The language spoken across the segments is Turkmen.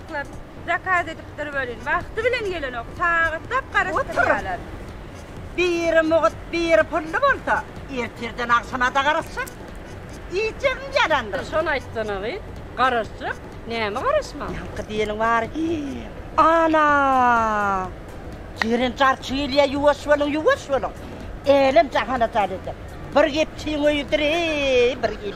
Ýaşlar zakaz edipdir welin, wagty bilen gelenok, sagatlap garaşdyrýarlar. Biri mugt, biri pully bolsa, ertirden agşama-da garaşjak. Iýjegim ýalandyr. Şony aýtsana-ly, garaşjak, näme garaşmak? Ýaňky diýeniň bary, Ana! Jeren jarçy gelýär, ýuwaş boluň, ýuwaş boluň! Älem-jahan ajaýyp edýär. Bir gepçiň öýüdir-eý, bir il.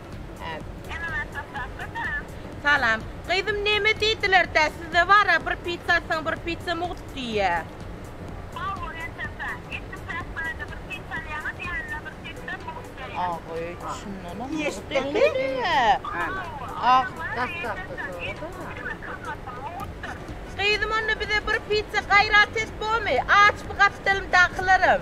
Salam. Gyzym neme diýdiler tä sizde bara bir pizza atsaň bir pizza mugt diýýä. Bawor etdimse, etdim päk barada bir pizza alýaňa diýende bir pizza mugt diýýä. Agy şundanam mugt etdiýä. Agy dassakda sorada. Gyzym onda bize bir pizza gaýrat et bomy aç bu gapdalymdakylaram.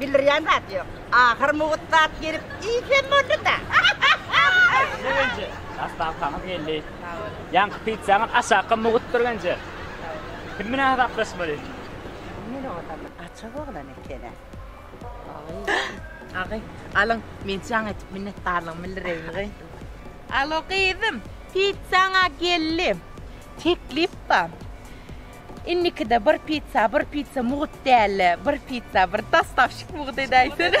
Bildirýän zat ýok. Ahyr mugt zat gelip iýip hem boldy-da. Birinji dastankaňyz geldi. Sag boluň. Ýaňky pitsaňyz aşakka mugtdyr menje. Kim bilen hasaplaşmaly? Kim bilen olam? Açyk oglan eken-ä. Agy, alyň, men jaň edip minnetdarlygymy bildireýin-gy. Alo gyzym, pitsaň-a geldi. Teklip bar. Innikide bir pizza, bir pizza mugut däldi. Bir pizza, bir dostavşik mugut edäýsene.